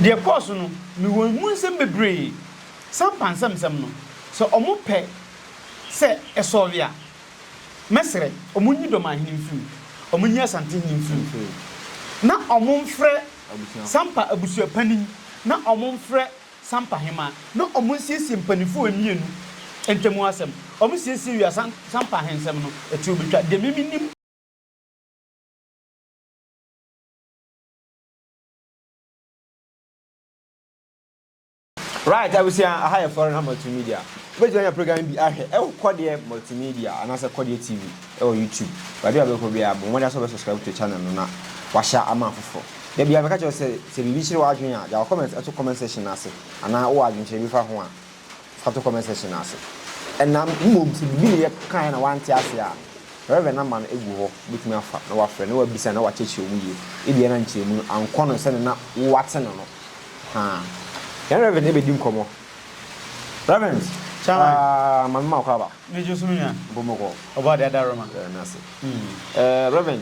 Deɛ ɛkɔɔ so no, mewɔ emu nsɛm bebree. Sampa nsɛmnsɛm no, sɛ wɔpɛ sɛ ɛsɔɔve a, mɛsrɛ wɔnyi Dɔmanhene mfiri mu, wɔnyi Asantehene mfiri mu, na wɔmfrɛ Sampa abusuapanin na wɔmfrɛ Sampa hemaa na wɔnsiesie mpanimfoɔ mmienu ntam asɛm. Wɔsiesie wie a, Sampa ahensɛm no, ɛtoɔ bɛtwa. Deɛ me menim. Right abusua aha yɛ foreign ha multimedia wobɛtumi anya program bi ahwɛ ɛwɔ kɔdeɛ multimedia anaasɛ kɔdeɛ tv ɛwɔ youtube baabi a wobɛkɔ biara bɔ mmɔden sɛ wobɛ subscribe to channel no na wahyɛ ama afoforɔ da biara mɛka kyerɛ sɛ sɛ biribi kyerɛ w'adwene a gya wɔ comment ɛto comment section no ase anaa wowɔ adwenkyerɛ bi fa ho a Fa to comment section no ase. Ɛna mmom sɛ biribi na yɛ kaeɛ na wante aseɛ a, Rev. No ama no agu hɔ, wobɛtumi afa na wafrɛ na wabisa na wakyerɛkyerɛ mu yie. Ebia na nkyerɛmu no ankɔ no sɛdeɛ na wo wate no no. Ahaa. Yɛne Rev. No bɛdi nkɔmmɔ. Rev. Chairman. Ah, Maame Mawokɔ aba. Megye so me nua. Mpomoko. Ɔbɔadeɛ Adaroma. Yɛda no ase. Mm. Eh, Rev.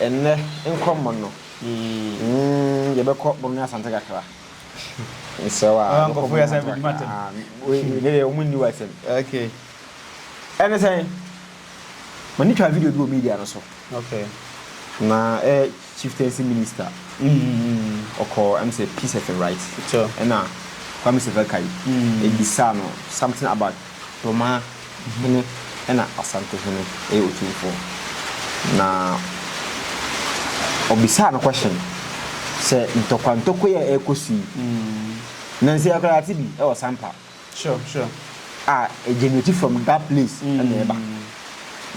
Ɛnnɛ nkɔ mono mm yɛbɛkɔ mono ne asante kakra mesrɛ wo aa yɛbɛkɔ mono ne asante kakra aa wei ne deɛ wɔn nni w'asɛm ɛne sɛn m'ani twaa video bi wɔ media no so na ɛyɛ chieftaincy minister ɔkɔ ɛm sɛ peace FM right ɛna Kwame Seferkai ɛbisaa no something about Domaa hene na Asante hene yɛ otumfoɔ. Na ɔbisaa no question sɛ ntɔkwa ntɔkwa yi a ɛrekɔ so yi, na nsɛ yɛ koraa yɛate bi wɔ Sampa. Sure, sure. A ɛgenerate from that place na ɛba.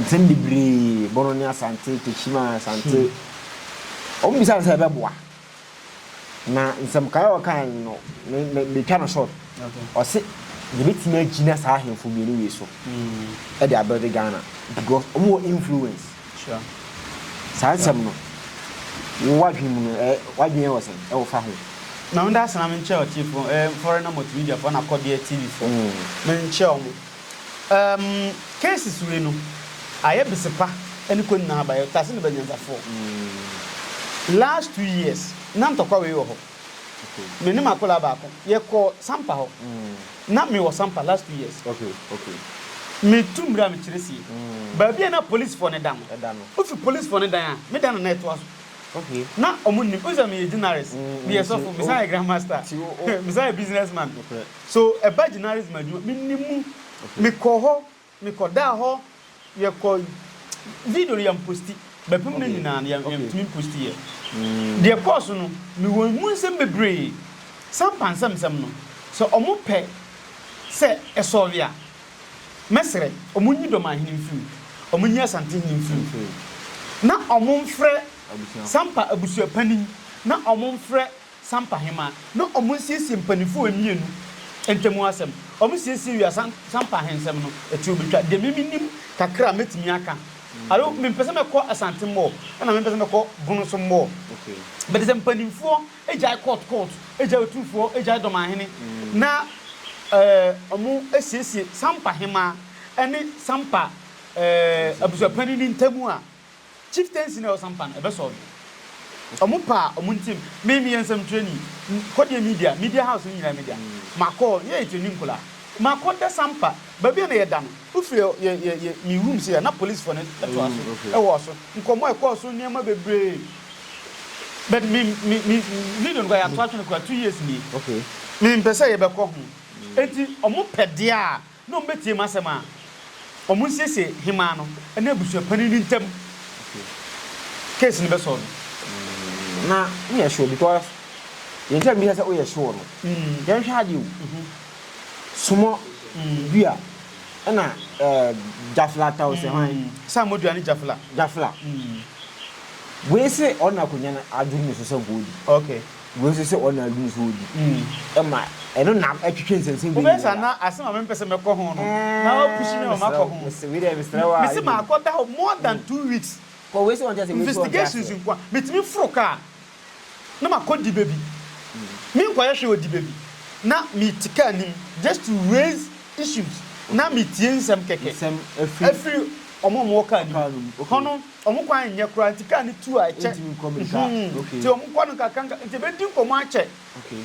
Nsɛm bebree, Bono ne Asante, Techiman, Asante. Wɔbisaa no sɛ ɛbɛboa. Na nsɛm nkae a ɔkae no no, me me metwa no short. Ɔse yɛbɛtumi agyina saa ahemfo mmienu wei so de abuilde Ghana because wɔn wɔ influence. Sure. Saa nsɛm no, wo w'adwene mu no, ɛ w'adwene wɔ sɛn ɛwɔ fa ho? Na ɔnda ase na menkyerɛ ɔteefoɔ, ɛɛ foreigner multimedia foɔ na kɔdeɛ TV foɔ, menkyerɛ wɔn. Erm cases wei no ayɛ besepa ɛne kɔ nyinaa aba yɛ tase ne ba nyansafoɔ last two years na ntɔkwa wei wɔ hɔ me ne m'akolaa baako yɛ kɔ sampa hɔ na me wɔ sampa last two years me tu mire a me kyerɛ sie baabi a na police foɔ ne da no wo fi police foɔ ne dan a me dan na na ɛtoa so na ɔmo nnim wo sɛ me yɛ gyinaris me yɛ sɔfo me san yɛ grand master me san yɛ business man. So ɛba gyinares ma adwuma? Mennim mu. Mekɔ hɔ, mekɔ daa hɔ, yɛkɔ video no yɛmposti. Bɛpem no nyinaa no yɛntumi mposti yɛ. Deɛ ɛkɔɔ so no mewɔ mu nsɛm bebree. Sampa nsɛm nsɛm no sɛ ɔmo pɛ sɛ ɛsɔɔve a, mɛsrɛ ɔmo nyi Dɔmanhene mfiri mu, ɔmo nyi Asantehene mfiri mu, na ɔmo mfrɛ Sampa abusuapanin na ɔmo mfrɛ Sampahema na wɔnsiesie mpaninfoɔ mmienu ntamu asɛm. Wɔsiesie wie a, Sam, Sampahensɛm no, ɛte obi twa. Deɛ me menim kakra a mɛtumi aka, alo mempɛ sɛ mɛkɔ Asante mmɔɔ, ɛna mempɛ sɛ mɛkɔ Bono so mmɔɔ. Okay. But sɛ mpaninfoɔ gyae court court, gyae Otumfoɔ, gyae Dɔmanhene, na ɛɛ wɔsiesie Sampahema ne Sampa ɛɛ abusuapanin no ntamu a, Chieftaincy na ɔsan pa no ɛbɛ solve. Ɔmo pa a ɔmo ntem. Me meyɛ nsɛmtwerɛni. Kɔ deɛ media, media house no nyinaa media. Makɔ hɔ, yɛ yɛ training nkɔla. Makɔ dɛ san pa. Baabi a na yɛ da no, wo firi yɛ yɛ yɛ me room sei a na police foɔ no ɛtoa so ɛwɔ so. Nkɔmɔ ɛkɔɔ so nneɛma bebree. But me me me video no koraa yɛ ato atwene koraa two years nie. Me mpɛ sɛ yɛ bɛ kɔ ho. Enti ɔmo pɛ deɛ a. Na wɔn bɛtie m'asɛm a wɔn nsiesie hemaa no ne abusua panin no ntam case no bɛsɔɔ no. Na woyɛ sure because yɛn sɛ mbisa sɛ woyɛ sure no yɛn hwɛ adeɛ o sumɔ dua ɛna jafla tao sɛ hwan. Samɔ dua ne jafla. Jafla wei se ɔna akonya no aduru ne so sɛ goodi. Okay. Wei nso sɛ ɔna adu nso odi ɛma ɛno na ɛtwetwe nsɛnsɛm wei nyinaa. Wobɛsa na asɛm a mempɛ sɛ mɛkɔ ho no na wapushi me ma makɔ ho. Mesrɛ wei deɛ mesrɛ wo a. Mese makɔ da hɔ more than two weeks. Kɔ wei sɛ ɔnte aseɛ wei sɛ ɔnte aseɛ. Investigations nkoa. Metumi foro kaa na makɔ diba bi. Menkɔyɛ hwee wɔ diba bi na mete kaa nim just to raise issues na metie nsɛm kɛkɛ afiri wɔn a wɔwɔ kaa no mu hɔ no. Wɔn kwan nyɛ koraa nti kaa no tu a ɛkyɛ. Ɛntumi nkɔ mirika. Mhm. Okay. Nti wɔn kɔ no nkakanka nti ebedi nkɔmɔ akyɛ. Okay.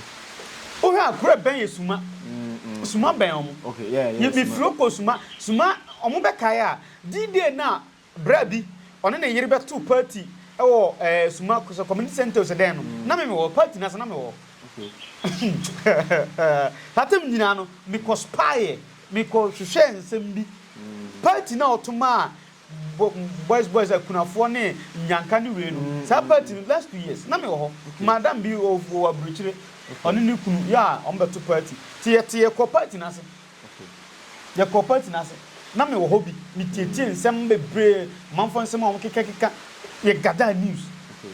Wohwɛ a kuro ɛbɛn yɛ Suma. Suma bɛn wɔn. Okay, yeah, yeah, Yɛ mi Suma. firi okɔ Suma. Suma wɔn bɛ kae a D-day no a bra bi ɔne ne yere bɛ to party ɛwɔ ɛɛ Suma sɛ community center o sɛ dɛn no na me me wɔ party no ase na me wɔ. Okay. Saa time nyinaa no me kɔ spy yɛ me kɔ hwehwɛ nsɛm bi party no a ɔto maa Bo boys boys akunafoɔ ne nyanka ne wei no saa party no last two years na me wɔ hɔ okay. madam bi wɔ wɔ aburukyire okay. ɔne ne kunu yɛ a wɔn bɛto party te yɛ te yɛ kɔ party n'ase okay. yɛ kɔ party n'ase na me wɔ hɔ bi me tietie nsɛm bebree manfo nsɛm a wɔn keka keka yɛ gada news okay.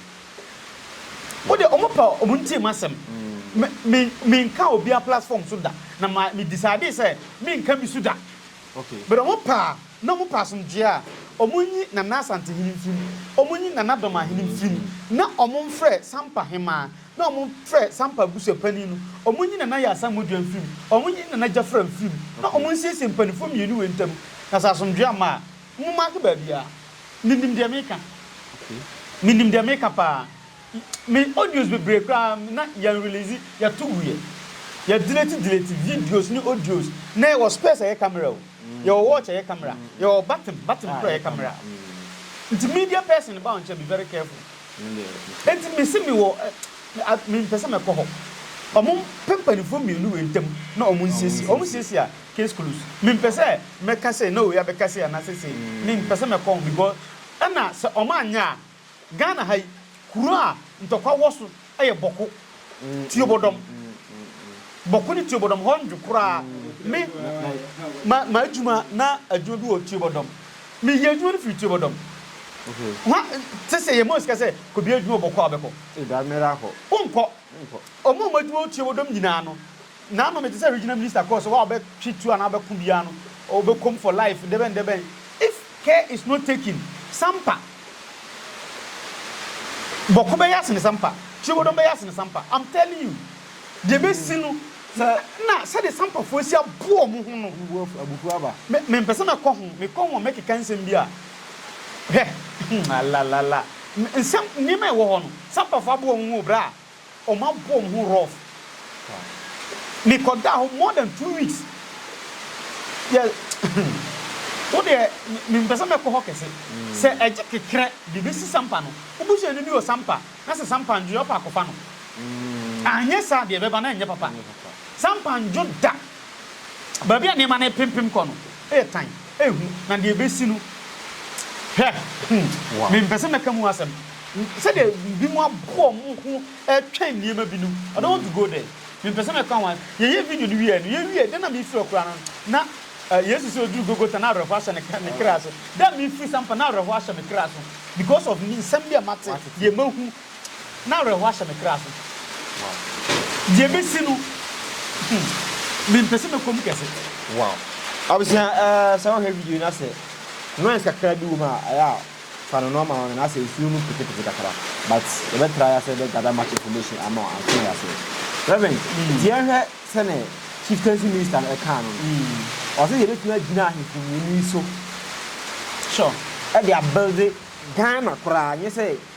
mo de wɔn pa wɔn ntie mu asɛm me me me nka obi a platform so da na ma me decide sɛ me nka bi so da okay. but wɔn pa. Na wɔpɛ asomdwoeɛ a, wɔnyi Nana Asante hene mfiri mu, wɔnyi Nana Dɔma hene mfiri mu, na wɔmfrɛ Sampa hemaa, na wɔmfrɛ Sampa abusuapanin no, wɔnyi Nana Yaa Asamoah-Duah mfiri mu, wɔnyi Nana Gyafra mfiri mu, na wɔnsiesie mpanimfoɔ mmienu wei ntam. Na sɛ asomdwoeɛ amma a, mommaake baabiara. Menim deɛ meka. Menim deɛ meka pa ara. Me audios bebree koraa na yɛn release yɛ to guiɛ yɛ delete delete videos ne audios na yɛ wɔ spares a ɛyɛ camera o yɛ wɔ watch a ɛyɛ camera yɛ wɔ button button koro a ɛyɛ camera nti media person ba wɔnkyɛ be very careful nti me se me wɔ me mpɛ sɛ mɛ kɔ hɔ ɔmo pɛ mpanifoɔ mmienu wei ntam na ɔmo nsiesie ɔmo siesie a case close me mpɛ sɛ mɛ ka sɛ na wei abɛka sɛ anasɛ sɛ me mpɛ sɛ mɛ kɔ ho because ɛna sɛ ɔmo anyɛ a Ghana ha yi, kuro a ntɔkwa wɔ so yɛ Bɔko, Tuobodɔm. Bɔko ne Tuobodɔm, hɔ nnwo koraa. Me, ma, m'adwuma, na adwuma bi wɔ Tuobodɔm. Meyɛ adwuma no firi Tuobodɔm. Hwa, te sɛ yɛ mɔ sika sɛ, kɔ bia adwuma wɔ Bɔko a wobɛkɔ. Wonkɔ. Wɔn a wɔn adwuma wɔ Tuobodɔm nyinaa no, Naano mete sɛ regional minister cos wa ɔbɛ twe tuo anaa ɔbɛ ko biaa no ɔbɛ kom for life dɛbɛn dɛbɛn if care is not taken sampa bɔko bɛyɛ asene sampa kyirebɔdɔm bɛyɛ asene sampa am telling you deɛ bɛsi no na na sɛdeɛ sampa foɔ asi aboɔ ɔmo ho no me me mpɛ sɛ mɛ kɔ ho me kɔ ho a mɛ keka nsɛm bi a hwɛ alalala nsɛm nneɛma ɛwɔ hɔ no sampa foɔ aboɔ ɔmo ho o bra. Wɔabɔ me ho rough. Mekɔdaa hɔ more than two weeks. Yɛ wo deɛ mempɛ sɛ mɛkɔ hɔ kɛse. Sɛ ɛgye kekerɛ de bɛsi sampa no, wo busuani bi wɔ sampa na sɛ sampa nnwo a, wopɛ akɔfa no. Anyɛ saa deɛ ɛbɛba no renyɛ papa. Sampa nnwo da. Baabi a nneɛma no repempem kɔ no yɛ tan, ɛyɛ hu, na deɛ ɛbɛsi no, hwɛ! Mempɛ sɛ mɛka mu asɛm, sɛdeɛ binom abɔ wɔn ho retwɛn nneɛma bi no, I don't want to go there. Mempɛ sɛ mɛka ho a, yɛyɛɛ video no wieeɛ no, yɛwieeɛ, da a na merefiri hɔ koraa no, na Yesu sɛ ɔduruu Golgotha, na awerɛhoɔ ahyɛ ne kra so. Da a merefiri saa mpo, na awerɛhoɔ ahyɛ me kra so because of nsɛm bi a mate, deɛ mahu, Na awerɛhoɔ ahyɛ me kra so. Deɛ mɛsi no, mempɛ sɛ mɛkɔ mu kɛse. Wow. Abusua, eh, sɛ wohwɛ video na sɛ noise kakra bi wɔ mu a, ɛyɛ a fa no normal one na sɛ nsuo no petepete kakra. But yɛbɛ try asɛ bɛ gather much information ama wo ansa na yɛasɛ. Reverend, nti yɛnhwɛ sɛnɛ Chieftaincy Minister no ɛkaa no no. Ɔsɛ yɛbɛtumi agyina ahemfo mmienu yi so. Sure. Ɛde abuilde Ghana koraa, nyɛ sɛ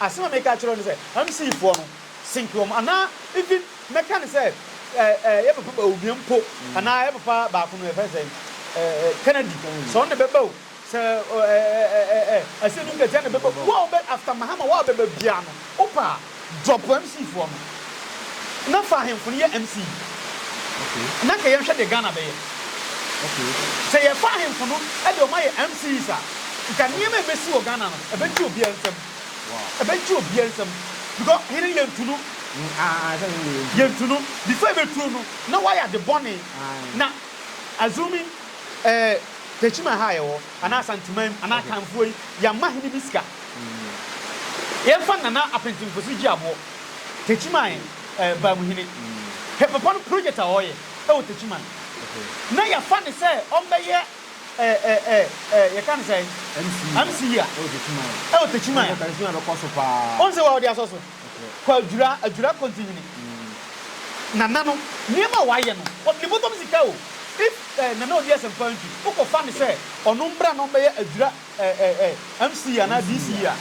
Asɛm a meka akyerɛ wo ne sɛ MC foɔ no sink wɔn anaa even mɛka ne sɛ eh yɛ papa Bawumia mpo anaa yɛ papa baako no yɛfrɛ sɛn eh Kennedy sɛ ɔno na ɛbɛba o sɛ eh eh Asiedu Nketia na ɛbɛba o wo a wobɛ after Mahama wo a wobɛba biara no wopɛ a drop MC foɔ no Na fa ahemfo no yɛ MC. Na kɛ yɛnhwɛ deɛ Ghana bɛyɛ. Sɛ yɛfa ahemfo no de wɔn ayɛ MCs a, nka nneɛma a ɛbɛsi wɔ Ghana no, ɛbɛgye obiara nsam. Ɛbɛgye obiara nsam. Because hene yɛntu no. Yɛntu no. Before yɛbɛtu no no, na wayɛ ade bɔne. Na assuming eh, Techiman ha a yɛwɔ, anaa Asanteman, anaa Akanfoɔ yi, yɛamma hene bi sika. Yɛmfa Nana Apentempose Gyeaboɔ. Techiman Bamuhene Hepepa no project a ɔreyɛ wɔ Techiman na yɛafa no sɛ ɔmmɛyɛ yɛka no sɛn MC a ɛwɔ Techiman wohu sɛ wɔde asɔ so kɔ Adwira Adwira Kontinhene Nana no nneɛma a wayɛ no ɔde ne bɔtɔm sika o if Nana Odi Asɛmpa ntwi wokɔfa no sɛ ɔno mmra na ɔmmɛyɛ Adwira Ɛɛ MC anaa DC a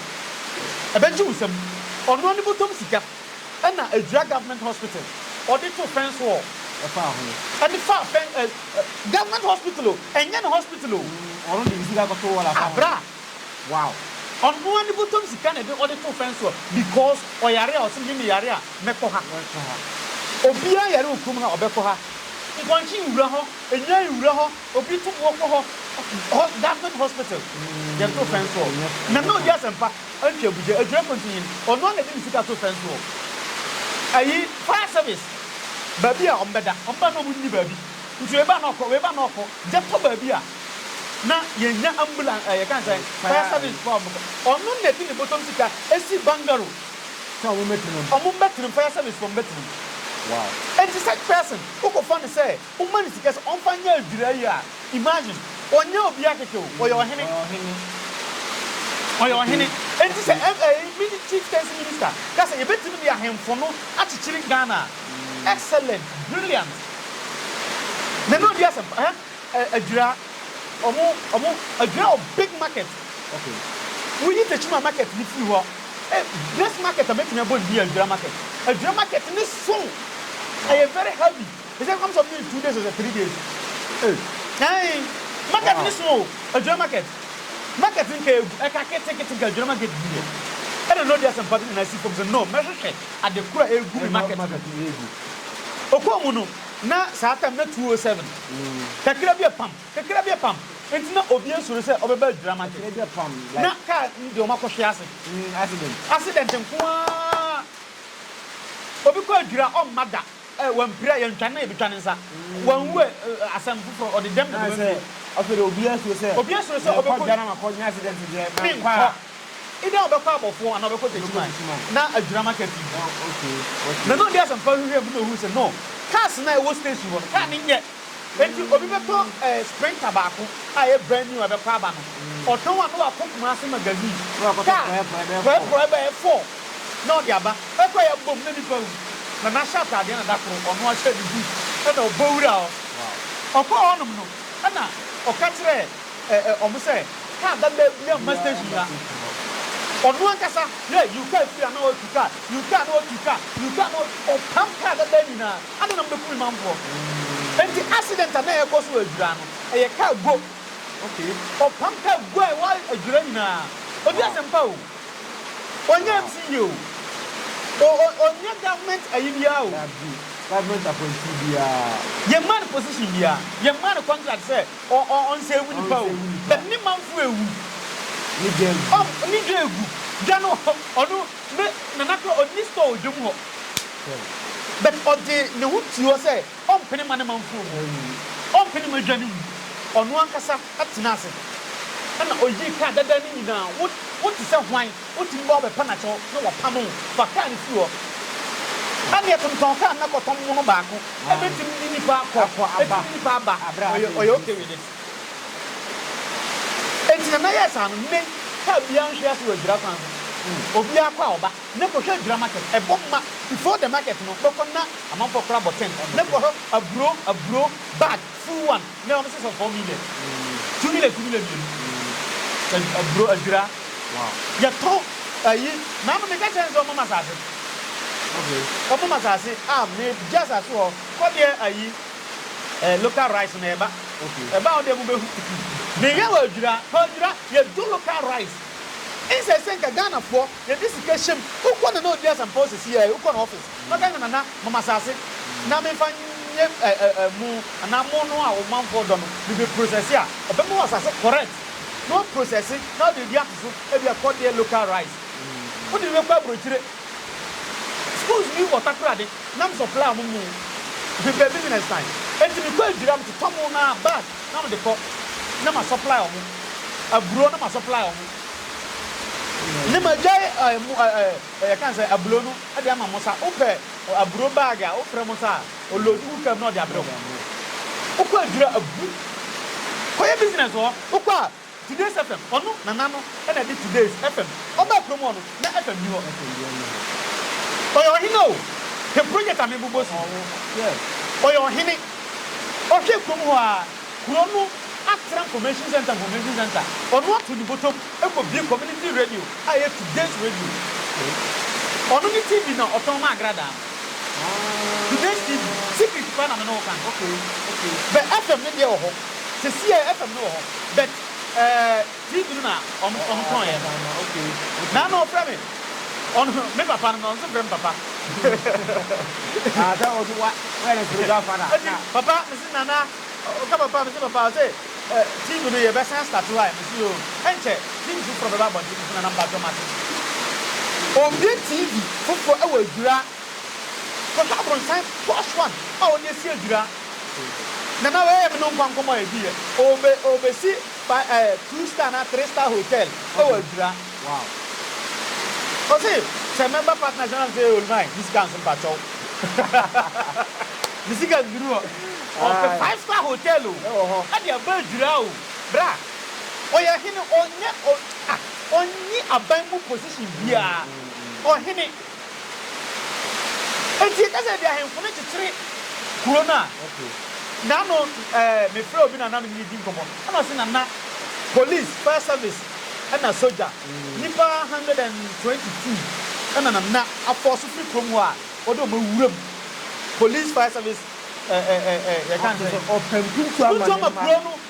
ɛbɛgye wo nsam. Ɔnoa ne bɔtɔm sika ɛna ɛdwira government hospital ɔde to fence wall ɛfa ho ɛde fa fence ɛ government hospital o ɛnyɛ ne hospital o ɔno de ne sika kɔto wall afa ho abra wow ɔnoa ne bɔtɔm sika na ɛde ɔde to fence wall because ɔyare a ɔse me me yare a mɛkɔ ha obiara yare wɔ kurom ha ɔbɛkɔ ha nkwankye nwura hɔ ɛnyan nwura hɔ. Obi tum wɔkɔ hɔ hɔ government hospital deɛ to fɛn soɔ na na odi asɛmpa antwi abugya adwira kɔ nti nyin ɔno ara na ɛde ne sika to fɛn soɔ ayi fire service baabi a wɔn bɛda wɔn ba na wɔn nni baabi nti wei ba na ɔkɔ wei ba na ɔkɔ gya kɔ baabi a na yɛn nya ambulance ɛyɛ kan sɛ fire service fɔ wɔn kɔ ɔno na ɛde ne bɔtɔm sika esi bangaro sɛ wɔn bɛtena mu wɔn bɛtena mu fire service fɔ wɔn bɛtena mu wow nti such person wokɔ fa ne sɛ. Woma no sika sɛ ɔmfa nyɛ adwira yi a, imagine, ɔnyɛ obiara kɛkɛ o, ɔyɛ ɔhene, ɔyɛ ɔhene, enti sɛ ɛɛ Chieftaincy Minister ka sɛ yɛbɛtumi de ahemfo no akyekyere Ghana a, excellent, brilliant, me ne ɔdi asɛm pa, ɛɛ adwira, ɔmo, ɔmo, adwira wɔ big market, okay, woyi Tekyima market no firi hɔ, best market a mɛtumi abɔ ne din yɛ adwira market, adwira market no so, ɛyɛ very heavy. They say come some days two days ose three days eh ae market ne so o adwira market market nka egu ɛka kete kete nka adwira market bi yɛ ɛna no ɔde asɛmpa bi nana asi fam sɛ no mɛhwehwɛ ade koro a egu me market no okɔɔ mu no na saa tam na two o seven kakra bi ɛpam kakra bi ɛpam nti na obi asuro sɛ ɔbɛba adwira market na kaa no deɛ ɔmo akɔhwe ase accident nko ara obi kɔ adwira ɔmma da. Ɛ, wampira ɛ, yɛntwa ne ɛ, yɛbɛtwa ne nsa. Wanwu ɛ, ɛ, asɛm foforɔ, ɔde dɛm na bɛma mie. Afei deɛ obiara suro sɛ. Obiara suro sɛ ɔbɛkɔ. Merekɔ dwa na makɔ nyɛ accident deɛ, menkɔ a. Menkɔ. Either ɔbɛkɔ abɔfoɔ anaa ɔbɛkɔ Techiman. Na adwira ma car pii. Na na ɔde asɛmpa hwehwɛɛ mu na ɔhuu sɛ, no, cars no a ɛwɔ station hɔ no, car no nyɛ. Enti obi bɛtɔ eh, Sprinter baako a ɛyɛ brand new a ɛbɛkɔ aba no, ɔtɔn a na wakɔ Kumasi Magazine, car prɔɛprɔɛ bɛyɛ four na ɔde aba. Ɛkɔ a yɛabom na nipa wu, na n'ahyɛ ataadeɛ na da koro ɔno ahyɛ ne boot na ɔbɔ wura hɔ. Ɔkɔɔ hɔnom no na ɔka kyerɛɛ eh, eh, wɔn sɛ car dadaa biara mma station ha. Ɔno ankasa, yeah, yiw, car firi ha na watu car, yiw, car na watu car, yiw, car na watu, ɔpam car dadaa nyinaa. Adɛn na mobɛku me manfoɔ? Enti accident a na ɛrekɔ so wɔ Adwira no, ɛyɛ kaa guo. Okay. Ɔpam kaa guo a ɛwɔ Adwira nyinaa. Ɔdi asɛmpa o. Ɔnyɛ MC yie o. O, o, ɔnyɛ government ayi biara o. Dabi, government appointee biara. Yɛmmaa no position biara. Yɛmmaa no contract sɛ ɔ, ɔ, ɔnsɛɛvu nipa o. Ɔnsɛɛvu nipa. But ne manfoɔ ɛwu. Ne dwa agu. Ɔm, ne dwa agu. Dwa no, ɔno. Me nana koraa ɔnni store wɔ dwam hɔ but ɔde ne ho tii hɔ sɛ ɔmpene mma ne manfoɔ mu, ɔmpene mma adwane mu, ɔno ankasa tena ase na ɔyii kaa dada no nyinaa, wo wo te sɛ hwan, wotumi ba hɔ bɛpa no akyɛw na wapamo wo, fa kaa no firi hɔ, ɛnneɛ tontɔn kaa no na kɔtɔ mono baako, ɛbɛtim ne nipa kɔ, ɛtim ne nipa aba, ɔyɛ ɔyɛ okay with it. Enti na mɛyɛ saa no, me car biara nhwe ase wɔ adwira kwan ho. Obiara kɔ a ɔba, na kɔhwɛ adwira market. Ɛbɔ ma, before the market no, bɛkɔ na amanfoɔ kora bɔtɛn, na kɔhwɛ aburo, aburo, bag, full one, na ɛwɔ sɛ sɛ four million, two million, two million mmienu, aburo, adwira. Yɛtɔn ayi, na ama meka kyerɛ no sɛ ɔmma me asase. Ɔmma me asase, ah, megye asase wɔ hɔ, kɔ deɛ ayi. eh local rice na ɛba ɛba a ɔdɛ mu bɛhu meyɛ wɔ adwira hɔ adwira yɛdwo local rice nsɛ sɛ nka Ghanafoɔ yɛde sika hyɛm wokɔ nana ɔdi asɛmpa ɔsisi yɛ wokɔ na office na ɔka nka nana mama saase na mefa nyɛ eh eh eh mo anaa mo no a wo manfoɔ dɔ no mebe process a ɔbɛma wɔ saase correct na wa process na ɔde adi atoso ebi ɛkɔ deɛ local rice wode bi bɛkɔ abrokyire schools bi wɔ takoradi. na mesɔ pla mo mu fi baabi nyina sian enti mekɔ adwira metotɔ mo na bag na mede kɔ na ma supply ɔmo aburo na ma supply ɔmo ne ma gyae ɛɛ mo ɛɛ ɛyɛ kan sɛ abulo no ɛde ama mo sa wopɛ aburo bag a wofrɛ mo sa a olodu wo kam na ɔde abrɛ wo wokɔ adwira abu kɔyɛ business wɔ hɔ wokɔ a Today's FM ɔno nana no na ɛde today's FM ɔbaa kurom hɔ no na FM nni hɔ ɔyɛ ɔhene o hwɛ project a mebobɔ si ɔyɛ ɔhene ɔhwɛ kurom hɔ aa kuro no atra nformation centre nformation centre ɔno ato ne botom kɔ bie community radio a ɛyɛ today's radio ɔno ne TV na ɔtɔn ma agradaa no today's TV secret paa na me ne wo ka no bɛ FM ne deɛ wɔ hɔ. Sesiɛ FM no wɔ hɔ but eh TV no na ɔmo ɔmo tɔɔyɛ no na na ɔfrɛ me ɔno me papa no na ɔno nso frɛ me papa Eti papa mesi nana ɔka papa mesi papa ɔse eh TV no yɛbɛ san start hɔ ai mesi oo ɛnkyɛ TV foforɔ bɛba abɔnten mesi nana mpakyɛw mate Ɔnbue TV foforɔ ɛwɔ adwira kɔhwɛ abronsan posh one a ɔde asi adwira. Na na ɔyɛ me no nkwa nkɔmmɔ a ɛdi yɛ. Ɔbe, ɔbɛsi fa, eh, two star anaa three star hotel wɔ Adwira. Wow. Ɔse, sɛ member partners no anse, oh my, me sika nso mpakyɛw. me sika nnuru hɔ. Ɔpɛ five star hotel o, ɛde aba Adwira o. Bra, ɔyɛ hene, ɔnyɛ, ɔ, ah, ɔnni aban mu position biara. Ɔhene. Enti yɛka sɛ ebi ahemfo no kyekyere kuro no a, na ano ɛɛ mefrɛ obi nana me ne no di nkɔmmɔ ɛna ɔse nana police, fire service ɛna sogya nnipa hundred and twenty two ɛna nana afɔɔso firi kurom hɔ a ɔde wɔn awura mu police, fire service ɛɛ ɛɛ ɛɛ yɛka ne sɛ ɔpɛ mpuntuo ama kuro no.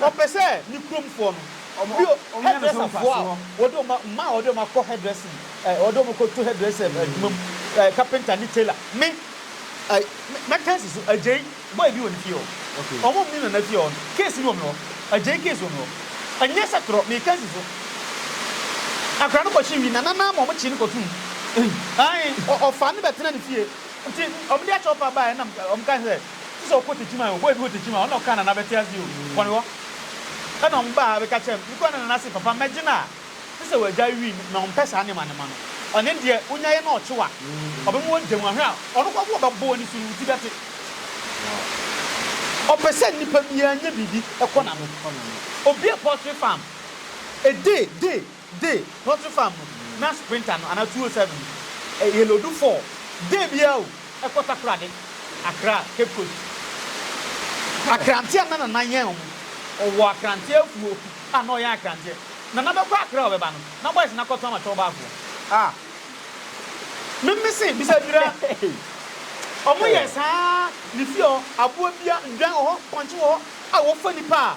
Ɔpɛ sɛ ne kurom foɔ no. Bio, hairdresser foɔ a wɔde wɔn a, mmaa a wɔde wɔn akɔ hairdressing, ɛɛ wɔde wɔn kɔ to hairdresser adwuma mu, ɛɛ carpenter ne tailor. Me, ɛɛ mɛka asi so, Agyei boy bi wɔ ne fie hɔ. Okay. Wɔn a wɔn ne Nana fie hɔ no, case bi wɔ me hɔ. Agyei case wɔ me hɔ. Ɛnyɛ sɛ torɔ, meka asi so. Akwadaa no kɔhye wi, Nana no ara ma wɔn kyee no kɔto mu. Ei. Ae, ɔfaa no bɛtena ne fie. Nti, wɔn de akyɛ ɔpɛ a baeɛ na wɔn kae sɛ. Te sɛ ɔkɔ tekyima yi o, boy bi wɔ tekyima a, ɔna ɔkaa Nana bɛte ase o, kɔ ne hɔ. Ɛna ɔmo baa ha bɛka kyerɛɛ me, me kɔɔ ne Nana se papa mɛgye no a, te sɛ w'agya wii no, na ɔmpɛ saa nneɛma nneɛma no. Ɔne deɛ, wonya yɛ na ɔkye wo a, ɔbɛma w'agya mu, ahwɛ a, ɔno koraa mpo ɔbɛbɔ w'ani so no, wo ti bɛte. Ɔpɛ sɛ nnipa biara nya biribi kɔ n'ano. Obi a poultry farm, a day, day. Day, poultry farm no na sprinter no anaa two oh seven no yɛ loadu four day biara o ɛkɔ Takoradi, Accra, Cape Coast. Akranteɛ a na Nana yɛn wɔn, ɔwɔ Akranteɛ afuo a na ɔyɛn Akranteɛ. Nana bɛkɔ Accra a ɔbɛba no, na boys no akɔtɔn ama Twɔw Baafoɔ. Ah! Me me se bisa Dwira, wɔn yɛ saa ne fie hɔ, aboa biara, nnwan wɔ hɔ, pɔnkye wɔ hɔ a wɔfa nnipa a.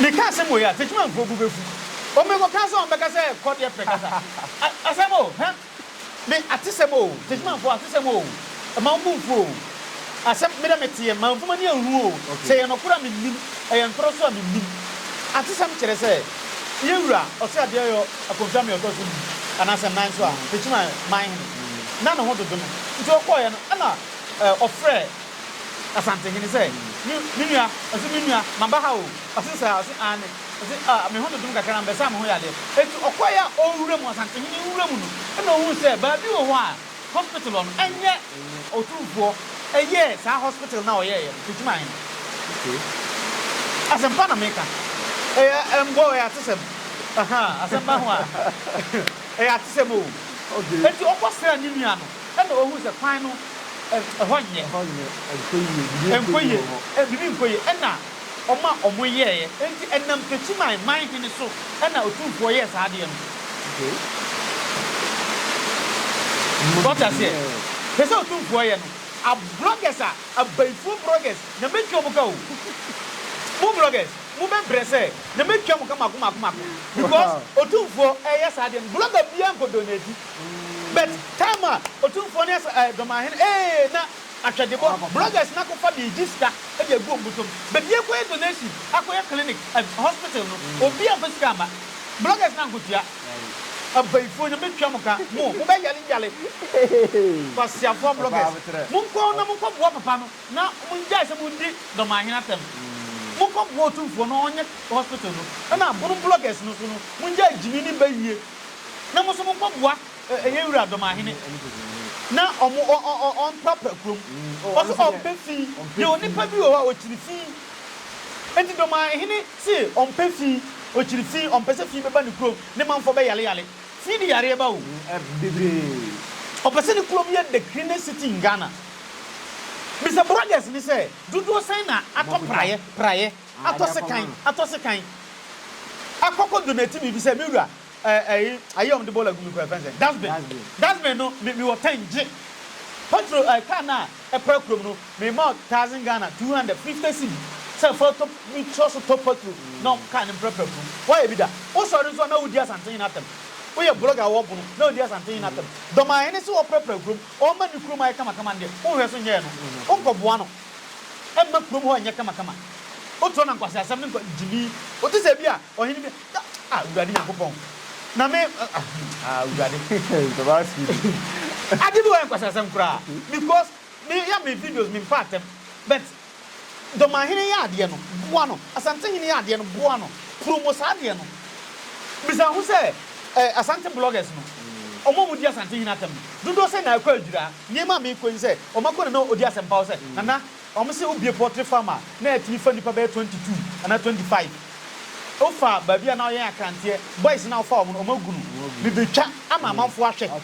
Me ka asem wei a techimanfoɔ bo bɛfu o me kɔ ka sɛ wɔn bɛka sɛ kɔ deɛ pɛ kasa a asem o hɛ me atesem o techimanfoɔ atesem o mma wo bo nfu o asem me dɛ me teɛ mma nfom ani anhunu o sɛ ɛyɛ nɔkoro a me nim ɛyɛ ntorɔ so a me nim atesem kyerɛ sɛ yɛ wura ɔse adeɛ yɔ akonfie ame ɔtɔ so du anaa sɛ nan so a techiman man hene na ne ho dodo no nti ɔkɔɔyɛ no ɛna ɔfrɛ Asantehene sɛ, Me me nua, ɔse, me nua, maba ha o. Ɔse saa? Ɔse, Aane. Ɔse, Ah, me ho dodom kakra na mebɛsaa me ho yadeɛ. Enti ɔkɔeɛ a ɔrewura mu, Asantehene rewura mu no, ɛna ɔhuu sɛ baabi wɔ hɔ a hospital hɔ no, ɛnyɛ Otumfoɔ ɛyɛɛ saa hospital no a ɔyɛeɛ no, Tekyima he. Okay. Asɛm pa na meka. Ɛyɛ ɛmbɔ, ɛyɛ atesɛm. Ahaa, asɛm ba ho a, ɛyɛ atesɛm o. Okay. Enti ɔkɔsraa ne nua no. Ɛnna ɔhuu sɛ kwan no, ɛhɔ nyɛ. Ɛhɔ nyɛ, ɛnkɔ yie. Biribi nkɔ yie wɔ hɔ. Biribi nkɔ yie. Ɛnna ɔma wɔyɛeɛ. Enti ɛnam Techiman man hene so na otumfoɔ yɛɛ saa adeɛ no. So wote aseɛ? Hwɛ sɛ otumfoɔ yɛ no. Ablɔgɛs a, abayifoɔ brɔgɛs, na mɛtwa mo ka o. Mo blɔgɛs, mobɛbrɛ sɛ na mɛtwa mo ka mmaako mmaako mmaako. Because otumfoɔ reyɛ saa adeɛ no, blɔga biara nkɔdoneti. But time a Otumfoɔ ne asa eh, Dɔmahene eh, na Atwɛdebɔ, bloggers no akɔfa de regye sika de agu wɔn bɔtɔ mu. But yɛkɔyɛ donation, akɔyɛ clinic, eh, hospital no, obiara mfa sika mma. Bloggers no ankotua. Abayifoɔ, Nyame tua mo ka, mo, mobɛyare yare. Kwasiafoɔ bloggers, monkɔ na monkɔboa papa no na mongyae sɛ modi Dɔmahene atɛm. Monkɔboa Otumfoɔ na ɔnyɛ hospital no, ɛna abono bloggers no nso no, mongyae gyimi ne bayie. na mo nso mo nkɔ boa yɛn wura Dɔmahene na ɔmo ɔ ɔ ɔ ɔmprapra kurom. Ɔse ɔmpɛ fi, deɛ onipa bi wɔ hɔ a ɔkyiri fi. Enti Dɔmahene se ɔmpɛ fi, ɔkyiri fi, ɔmpɛ sɛ fi bɛba ne kurom, ne manfoɔ bɛ yale yale. Fi de yareɛ ba o. Ɔpɛ sɛ ne kurom yɛ the cleanest city in Ghana. Bisa brothers no sɛ dodoɔ sɛn na atɔ praeɛ, praeɛ. Atɔ sekan, atɔ sekan. Akɔkɔ do na etsi me bi sɛ, Me wura, eh, eh, ayi a wɔde bɔɔla gu mu yi kɔ yɛfrɛ no sɛn? Dustbin. Dustbin no, me, mewɔ tank gye. Petrol, eh, car no a ɛpra kurom no, mema wo thousand Ghana, two hundred, fifty cedi sɛ fa tɔ, bi tɔ so tɔ petrol na car no mprapra kurom. Woayɛ bi da? Wosɔre nso a na wodi Asantehene no atɛm. Woyɛ blogger a wɔbɔ no, na odi Asantehene no atɛm. Dɔmahene se ɔmprapra kurom, ɔmma ne kurom ayɛ kamakama no deɛ, wonhwɛ so nyɛɛ no. Wonkɔboa no. ɛmma kurom hɔ nyɛ kamakama. Wotoɔ na nkwaseasɛm ne nkwa gyimi. Wote sɛ bi a ɔhene bi a, ah, Awurade Nyankopɔn, na me, ah, ah, Awurade. Ade bi wɔ yɛ nkwaseasɛm koraa because me yɛ me videos me mpa atɛm but Dɔmanhene yɛ adeɛ no boa no, Asantehene yɛ adeɛ no boa no, promo saa adeɛ no. Bisa ho sɛ eh, Asante bloggers no, ɔmo a ɔmo di Asantehene atɛm no, dodoɔ sɛn na ɛkɔ adwiraa? Nneɛma a meekɔ yi ne sɛ, ɔmakɔ na na ɔdi asɛmpa hɔ sɛ, Nana, wɔse wobue poultry farm a na atumi fa nnipa bɛyɛ twenty two anaa twenty five. Wofa baabi a na wɔyɛn akranteɛ, boys no a wofa wɔn no, wɔn agu no. Mebɛtwa ama amanfoɔ ahwɛ.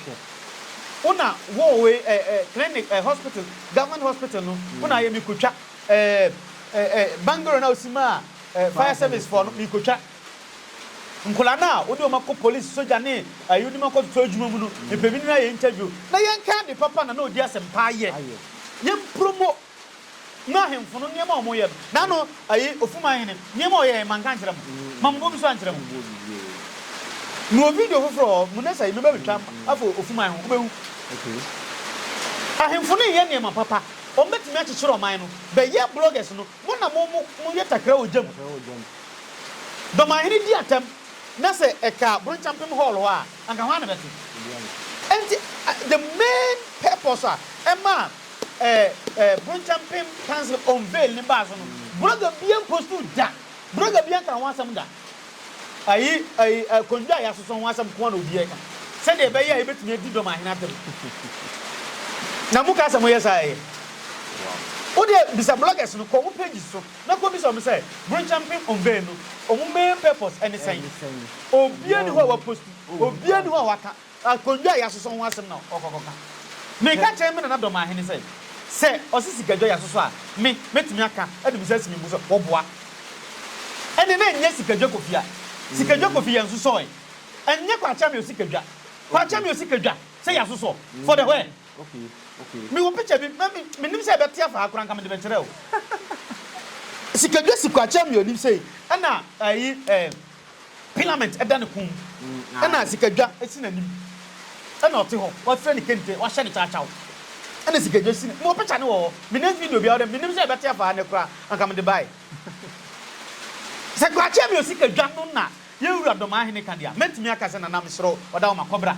Wo na wowɔ wei ɛ ɛ clinic ɛ hospital, government hospital no, wo na ayɛ. Mekɔtwa ɛ ɛ ɛ bungalow no a wosi maa ɛ fire service foɔ no, mekɔtwa. Nkwadaa no a wode wɔn akɔ polisi, sogya ne ayunim akɔtoto adwuma mu no, yɛpɛ bi ne no ayɛ interview na yɛnkae ade papa na na ɔdi asɛmpa ayɛ. Yɛmpromo ma ahemfo no nneɛma a wɔyɛ no. Na ano ayi Ofuman hene nneɛma a ɔyɛɛ no manka nkyerɛ mo? Mammobɔ bi so ankyerɛ mo? Mewɔ video foforɔ wɔ hɔ, Munessa yi mɛba abɛtwa afa Ofuman ho, wobɛhu. Ahemfo no reyɛ nneɛma papa, wɔbɛtumi akyekyere ɔman no. Bɛyɛ bloggers no, mo na mo mo yɛ takra wɔ gya mu. Dɔmahene di atɛm na sɛ ɛka Bronchampem Hall hɔ a, anka hwan na bɛte? Enti the main purpose a ɛma Bronchampem Council unveil no baa so no, blogger biara mpostu da, blogger biara nka ho asɛm da. Ayi, ayi, akondwa a yɛasosɔ ho asɛm nko ara na obiara reka, sɛdeɛ ɛbɛyɛ a yɛbɛtumi adi Dɔmahene atɛm. Na moka sɛ moyɛ saa a, ɛyɛ? Wodeɛ bisa bloggers no, kɔ wɔn pages so. Na kobisa ɔmo sɛ brenkyɛ mpem onbɛn no ɔmo main purpose ɛne sɛn? Obia ni hɔ a waposti, obia ni hɔ a waka akondwa a yasosɔ ho asɛm na ɔkɔ kɔ ka. Me ka kyerɛ me nana Dɔmahene sɛ, sɛ ɔse sikadwa yasosɔ a me mɛtumi aka de me nsa asi me bo sɛ ɔboa. Ɛnde na ɛnyɛ sikadwa Kofi a sikadwa Kofi yɛnsosɔɛ, ɛnyɛ Kwakyamio sikadwa Kwakyamio sikadwa sɛ yasosɔ for the where? Mewɔ picture bi, na mennim sɛ ɛbɛte afa ha koraa, anka mede bɛkyerɛ wo. Sikadwa si Kwakye Ameaw anim sei, ɛna ayi eh, Pilament ɛda ne kɔn mu, ɛna Sikadwa si n'anim, ɛna ɔte hɔ, wafira ne kente, wahyɛ ne kyakyaw, ɛna Sikadwa si ne, mewɔ picture no wɔ hɔ, menya video biara dɛ, mennim sɛ ɛbɛte afa ha nnɛ koraa, anka mede bae. Sɛ Kwakye Ameaw Sikadwa no na yɛn Wura Dɔmahene ka deɛ a, mɛtumi aka sɛ Nana mesrɛ wo, ɔda wo ma, kɔbra.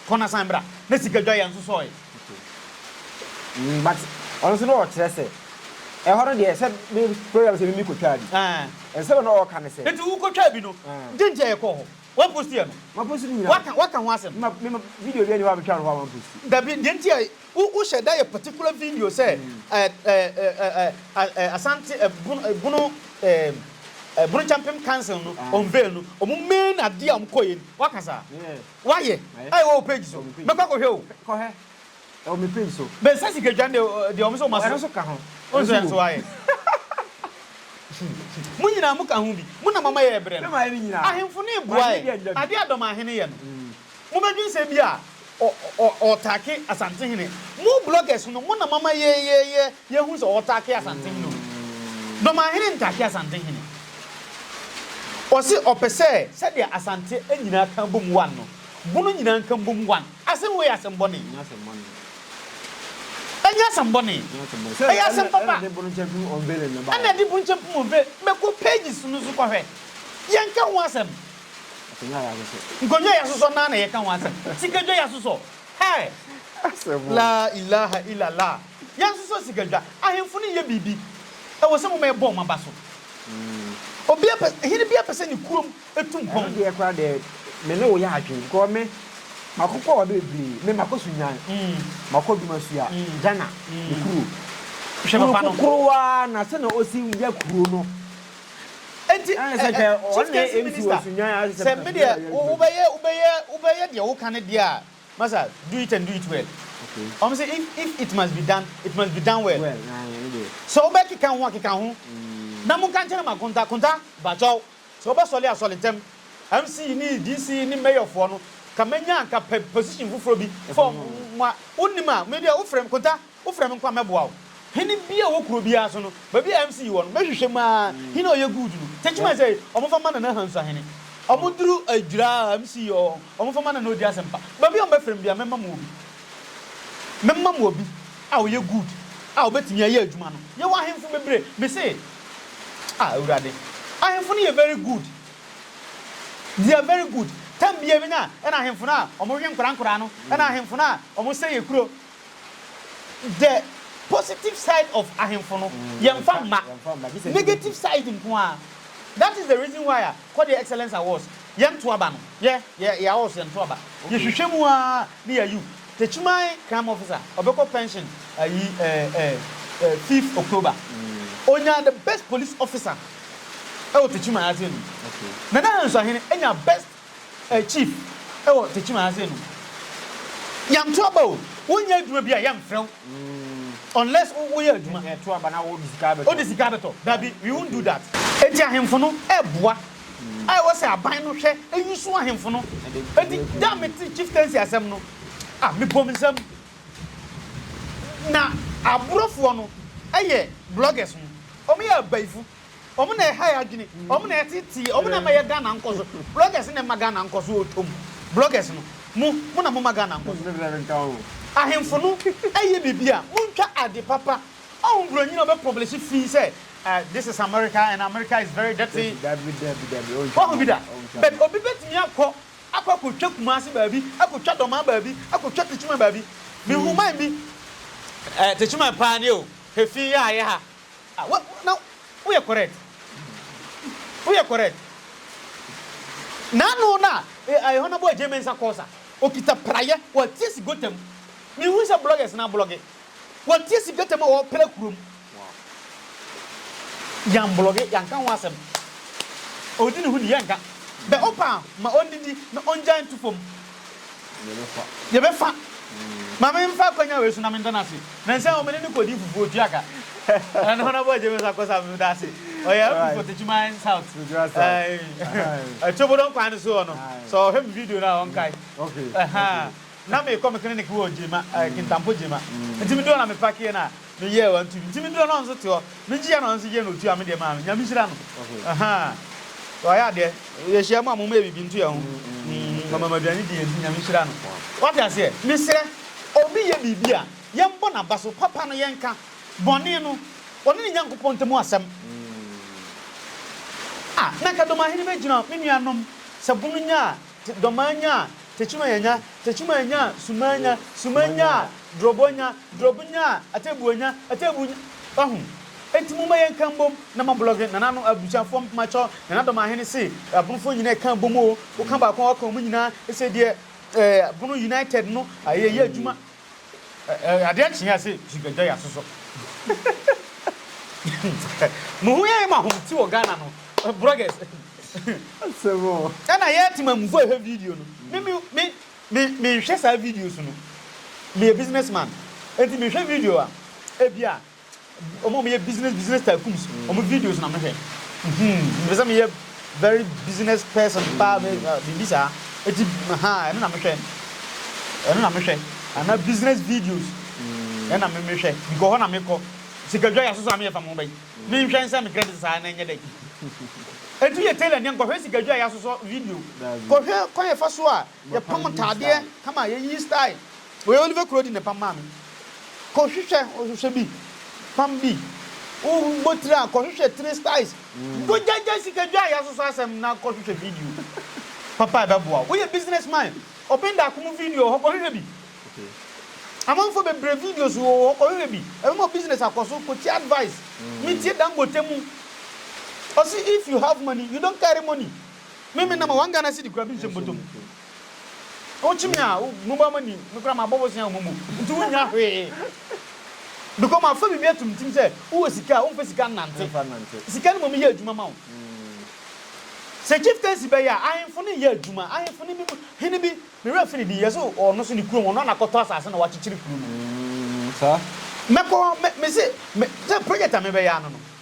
Kɔ na san bra na sika dwa yɛ nso sɔɔe. Okay but ɔno nso na ɔkyerɛ sɛ ɛhɔ no deɛ sɛ me program sɛ mimi kɔtwaa bi ɛɛ nsɛm a na ɔɔka ne sɛ. Nti wo kɔtwaa bi no dɛn nti a yɛ kɔɔ hɔ wa post yɛ no. Ma post no nyinaa. Waka waka ho asɛm. Ma me ma video bi ɛni hɔ a me twaa no hɔ a ma post. Dabi deɛ nti a wo wo hyɛ da yɛ particular video sɛ ɛɛ ɛɛ ɛɛ ɛɛ Asante ɛɛ bono ɛɛ bono ɛɛ ɛɛ bono kyampem council no ɔnvɛɛ no ɔmo main adeɛ a ɔmo kɔɔyɛ ni waka saa. Yeah. Wayɛ a ɛwɔ wo page so mɛkɔ akɔhwɛ o. Kɔ hɛ ɛwɔ me page so. Me nsa sika dwa no deɛ ɔmo sɛ ɔmo aso. Ɛno nso ka ho. Wonso yɛ nso wayɛ. Mo nyinaa mo ka ho bi. Mo na mo ama yɛ ɛbrɛ no. Ahemfo no reboa ɛ. Adeɛ a Dɔm ahene yɛ no. Mo bɛdwen sɛ ebia ɔ ɔ ɔɔtake Asantehene. Mo bloggers no mo na mo ama yɛ yɛ yɛ. Yɛhu sɛ ɔtaa ke Asante hene o. Dɔmanhene ntaa ke Asante hene. Ɔse ɔpɛ sɛ sɛdeɛ Asante nyinaa ka bom one no, Bono nyinaa nka mbom one. Asem wei yɛ asem bɔne. Ɛnyɛ asem bɔne. Ɛnyɛ asem bɔne. Ɛyɛ asem papa. Ɛna de Bono Nkyɛmpem Unveiling no baeɛ. Ɛna de Bono Nkyɛmpem Unveiling. Bɛkɔ pages no so kɔhwɛ. Yɛnka ho asem. Akonwa yɛ asosɔ. Nkonwa yɛ asosɔ naa na yɛka ho asem. Sika dwa yɛ asosɔ. Hɛɛ. Asem o. Laa ilaha ila laa. Yɛnsosɔ sikadwa. Ahemfo no nyɛ biribi. Ɛwɔ sɛ moma yɛbɔ wɔn aba so. Obiara pɛ, hene biara pɛ sɛ ne kurom tu mpɔn. Ɛno deɛ koraa deɛ, me ne wo yɛ adwene because me, makɔ kɔ baabi bebree. Me, makɔ Sudan, makɔ Dumasua, Ghana, me kuro. Kuro kokoroo ara na sɛdeɛ ɔsi yɛ kuro no. Enti, eh, eh, Chief Kensington Minister, sɛ me deɛ, wobɛyɛ, wobɛyɛ, wobɛyɛ deɛ woka no deɛ a, Masa do it and do it well ɔmo sɛ if if it must be done it must be done well sɛ wobɛ keka ho a keka ho na mo nka nkyɛrɛ ma konta konta bakyɛw sɛ wobɛ sɔle a sɔle ntɛm MC ne DC ne mayor foɔ no ka mɛnya anka pɛ position foforɔ bi for mo a wo nim a me deɛ wo frɛ me konta Wofrɛ me nkɔ a mɛboa wo. Hene bi a ɔwɔ kuro biara so no, baabi a MC wɔ no, mɛhwehwɛ mu ara hene a ɔyɛ good no. Techiman sɛ, wɔmfa mma Nana Hansu Ahene. Wɔduru Adwira a, MC wɔ hɔ, wɔmfa mma Nana Odi Asɛmpa. Baabi a wɔbɛfrɛ me biara, mɛma mo obi. Mɛma mo obi a ɔyɛ good a ɔbɛtumi ayɛ adwuma no. Yɛwɔ ahemfo bebree. Mese, Ah, Awurade, ahemfo no yɛ very good. They are very good. Time biara bi no a, ɛna ahemfo no a wɔhwe nkwadaa nkwadaa no, ɛna ahemfo no a wɔsɛe akuro, The positive side of ahemfo no yɛnfa mma negative side nko ara that is the reason why a kɔ deɛ excellence awards yɛnto aba no yɛ yɛ yɛ awards yɛnto aba yɛhwehwɛ mu ara ne yɛayu Techiman crime officer ɔbɛkɔ pension ayi ɛɛ ɛɛ ɛɛ fifth October ɔnya the best police officer ɛwɔ Techiman ase no Nana Hansu Ahene nya best Eh chief ewɔ tekyim ha sei no yɛnto aba o wonyɛ adwuma bi a yɛnfrɛ wo unless woyɛ adwuma wode sika abɛtɔ dabi we won't do that. Enti ahemfo no ɛɛboa a ɛwɔ sɛ aban no hwɛ ɛyusu ahemfo no enti da a mete chieftaincy asɛm no ah mebom nsam na aborofoɔ no ɛyɛ bloggers no ɔmo yɛ abayifo. Ɔmo na ɛha yɛ adwene, ɔmo na ɛtete yɛ, ɔmo na ɛma yɛ Ghana nkɔ so. Bloggers na ɛma Ghana nkɔ so ɔtɔ mu. Bloggers no, mo, mo na moma Ghana nkɔ so. Ahemfo no ɛyɛ biribi a, montwa ade papa. Ɔho broni na ɔbɛ publish fii sɛ eh, this is America and America is very dirty. Wahu bi da? But obi bɛtumi akɔ, akɔ akɔtwa Kumasi baabi, akɔtwa Dɔmaa baabi, akɔtwa Techiman baabi. Mehu man bi, eh, Techiman paa nie o, he fi yɛ a yɛ ha. Ah wo na wo yɛ correct wo yɛ correct n'ano na eh honourable agye mensa kɔɔ sa okita prayɛ watie si gota mu me hu sɛ bloggers na blogge watie si gota mu a ɔpra kuro mu yan blogge yan ka ho asɛm ɔdi ne ho ni yɛn ka bɛ ɔpa ma ɔndidi na ɔngya ntu fam Yɛbɛfa. Ma memfa akwanya wei so na meda no ase. Nnansa o, me ne no kɔdii fufuo, tua ka. Ɛna ne Honourable James Akosa me da ase. Ɔyɛ MP for Techiman South. Ɛɛ, Kyobodon kwan no so hɔ no, sɛ ɔhwɛ me video no a, ɔnkae. Ɛhaa, na mekɔ me clinic wɔ Gyema, ɛɛ, Kintampo Gyema. Nti meduru hɔ na mepakeeɛ no a, Me yɛɛ wa nti nti me duro no nso te hɔ me gyeɛ no nso gyeɛ na ɔtua me deɛ maa me nyame hyira no ahaa wayɛ adeɛ yɛ hyia mu a mo mɛ bibi nto yɛ ho mm, mama maduane di yɛ nti nyame hyira no wate aseɛ mesrɛ obi yɛ biribi a yɛn bɔ n'aba so papa no yɛn ka bɔne no ɔne ne nyankopɔn ntamu asɛm ah na nka dɔmahene bɛgyina me nua nom sɛ bono nyaa T Dɔmaa nya a, tekyuma yɛ nya, tekyuma nya a, sumaa nya, suma nya a, drɔbɔ nya, drɔb nya a, atebuo nya, atebuo nya Wahu? Enti momma yɛnka mbom na moablɔge nananom abusuafoɔ mpoma kyɔ Nana Dɔmaahene se Abonofoɔ nyinaa ɛka bom o, woka baako a woaka wɔn nyinaa, ɛsɛ deɛ ɛɛ Abono United no ayɛ yɛ adwuma. Adeɛ kye a se sika dwa yɛasosɔ Mo ho yɛyɛ ma hom ti wɔ Ghana no Broggers Ɛna yɛte ma mufo hwɛ video no Me me me me menhwɛ saa videos no Meyɛ business man Enti mehwɛ video a Ebia Wɔn a wɔyɛ business business tycoons, mm. wɔn videos na mehwɛ. Mepɛ sɛ meyɛ very business person paa biribi saa. Eti ha ɛno na mehwɛ. Ɛno na mehwɛ. Ana business videos. Mm. Ɛna me mehwɛ. Because hɔ na mekɔ. Sikadwa yɛ soso a meyɛ fa mo bɛyi. Mm. Menhwɛ nsɛ me credit saa na ɛnyɛ dɛ. Eti yɛ tailor ne nkɔhwɛ sikadwa yɛ soso video. Kɔhwɛ kwan yɛ fa so a Yɛ pam ntaadeɛ kama yɛ yi style. Wei Oliver Kurodi na ɛpam maa me. Kɔ hwehwɛ hwehwɛ bi pam bi. Wo bɔ tiri a kɔ hwehwɛ tiri styles. Dwo gya gya sika dwa yɛ asosɔ asɛm na kɔ hwehwɛ video papa ɛbɛ boa wo. Wo yɛ business man ɔpɛn da akomu video wɔ hɔ kɔ hwehwɛ bi. Amanfoɔ bebree videos wɔ hɔ kɔ hwehwɛ bi ɛbɛ ma wo business akɔ so kɔ tie advice. Me tie Dangote mu ɔse if you have money you don't carry money. Me me na ma one Ghana cedi kura bi nhyɛ bɔtɔ mu. Wo kyi me a wo mo ba ma ni me kura ma bɔ bosea wo momo nti wo nya hwee. Because ma fa bibi ato me tim sɛ wo wɔ sika a wo nfa sika nnante. Sika no ma me yɛ adwuma ma wo. Sɛ chieftaincy bɛ yɛ a ahenfo ne yɛ adwuma ahenfo ne bi mu hene bi me wura fi ne din yɛ so ɔno so ne kurom ɔno na kɔtɔ asase na wa kyekyere kuro no. Mɛkɔ me se me sɛ project a me bɛ yɛ ano no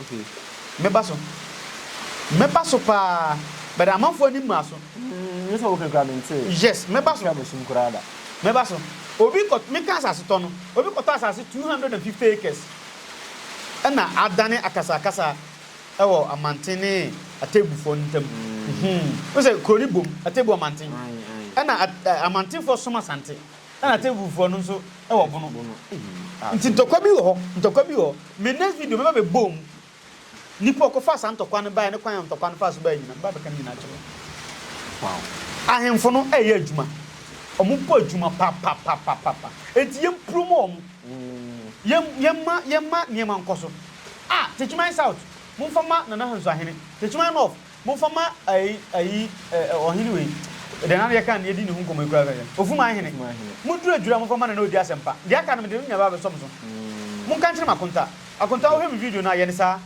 Okay. Mɛba so. Mɛba so paa. But amanfoɔ ani mmaa so. Mm, me sɛ woka kura me ntee. Yes, mɛba so. Twa me sum koraa da. Mɛba so. Obi kɔ, meka asase tɔ no. Obi kɔtɔ asase 250 acres. Ɛna adane akasakasa ɛwɔ amanten ne Atebufoɔ no ntam. Mm. Wohu sɛ kuro no bom, Atebu amanten. Aye, aye. Ɛna amantenfoɔ som Asante. Ɛna tebufoɔ no nso wɔ bono. Nti ntɔkwa bi wɔ hɔ, ntɔkwa bi wɔ hɔ. Me next video mɛba abɛbɔ mu nipa a ɔkɔfaa saa ntɔkwa no baeɛ ne kwan a ntɔkwa no faa so baeɛ nyinaa. Mɛba abɛka ne nyinaa akyerɛ wo. Ahemfo no ɛyɛ adwuma. Wɔn bɔ adwuma papapapapa. Nti yɛn promo wɔn. Yɛn yɛn ma yɛn ma nneɛma nkɔ so. Ah Techiman South monfa ma Nana Hansu Ahene. Techiman North. Momfa ma ayi, ayi, ɛ, ɛ, ɔhene wei. Deɛ na yɛka no, yɛdi ne ho nkɔmmɔ yi koraa sɛ, Ofuman hene, moduru adwiri a, momfa ma no na ɔdi asɛm pa. Deɛ aka no, mede me nua bɛba abɛsɔ mo so. Monka nkyerɛ m'akonta. Akonta, wohwɛ me video no a, yɛ no saa.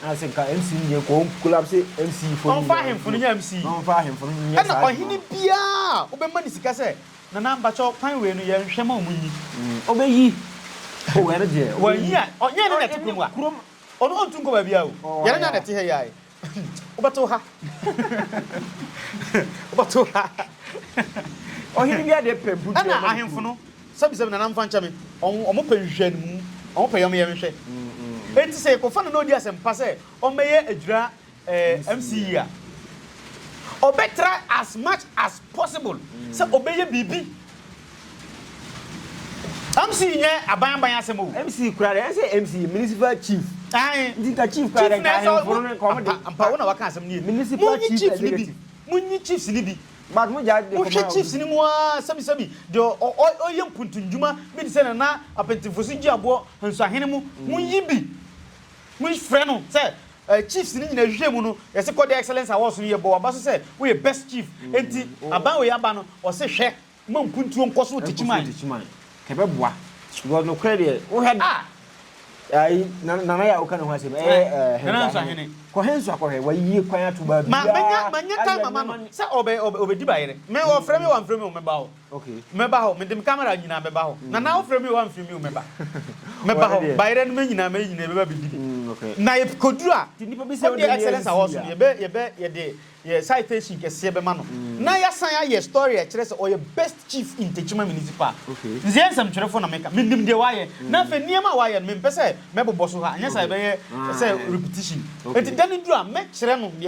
Na sɛ nka MC no deɛ, kɔɔ collapse MC foɔ no nyinaa. Ɔmfa ahemfo no nyɛ MC. Na ɔmfa ahemfo no nyɛ saa adwuma no. Ɛna ɔhene biara a wobɛma no sika sɛ, Nana, mpakyɛ, kwan wei no, yɛnhwɛ ma wɔnyi. Ɔbɛyi. Oh, ɛno deɛ, ɔbɛyi. Wanyi a, ɔnyɛ ɛno na ɛte kurom a. Ɛne kurom Ɔno ɔntu nkɔ baabiaa o. Yɛn anya na ɛte ha yi ae. Wobɛto ha. Wobɛto ha. Ɔhene bi adeɛ pɛ mpo tua ma no kuro. Ɛna ahemfo no, sɛbisɛbi nana mfa nkyɛ me, wɔn pɛ nhwehwɛnimu, wɔn pɛ yɔmyɛ nhwɛ. Enti sɛ yɛkɔfa no na ɔdi asɛmpa sɛ ɔmmɛyɛ adwira eh, MC yi a, ɔbɛ try as much as possible sɛ ɔbɛ yɛ biribi. MC nyɛ aban aban asɛm o. MC kura dɛ, ɛsɛ MC yɛ municipal chief. Ayi. Nti nka chief kura dɛ, nka ahemforo no nka ɔmo de. Mpa wo na waka asɛm ni yɛ. Municipal chief executive. Mo nyi chiefs ni bi. But mo gya de kɔma. Mo hwɛ chiefs ni mu aa sɛbi sɛbi de ɔyɛ mpuntu ndwuma bi de sɛ nana apɛntinfo so gyi aboɔ nsuahene mu. Mo nyi bi. Mo frɛ no sɛ Eh chiefs no nyina hwehwɛ mu no yɛse kɔ deɛ excellence awards no yɛbɔ waba so sɛ woyɛ best chief enti aban wei aba no ɔse hwɛ ma mpuntuo nkɔso te kyiman. Kɛbɛboa because nokorɛ deɛ wohwɛ da ayi nana yɛ a woka ne ho asɛm ɛyɛ Nana Nso Ahene kɔ he nso akɔhwɛ wayie kwan ato baabiaa ma mɛnya time ama no sɛ ɔbɛ ɔbɛ ɔbɛdi bayerɛ me ɔfrɛ me wamfrɛ me o mɛba o. Okay. Mɛba hɔ, mede me camera nyinaa mɛba hɔ. Na na wofrɛ me o, wamfrɛ me o, mɛba. Mɛba hɔ, bayerɛ no mɛnyinaa, mɛyɛ nyinaa, yɛbɛba bɛdi bi. Mm, okay. Na yɛkɔduru a, Ti nipa bi sɛ wode excellence awɔ so no, yɛbɛ, yɛbɛ, yɛde yɛ citation kɛseɛ bɛma no. Mm. Na yɛasan ayɛ story a ɛkyerɛ sɛ ɔyɛ best chief in Techiman Municipal. Okay. Nzeɛ nsɛmtwerɛfoɔ na meka, menim deɛ wayɛ. Mm. Na afei nneɛma a wayɛ no, mempɛ sɛ mɛbobɔ so ha, anyɛ saa okay. ɛbɛyɛ ah, sɛ eh. repetition. Okay. Enti da no duru a, mɛkyerɛ no deɛ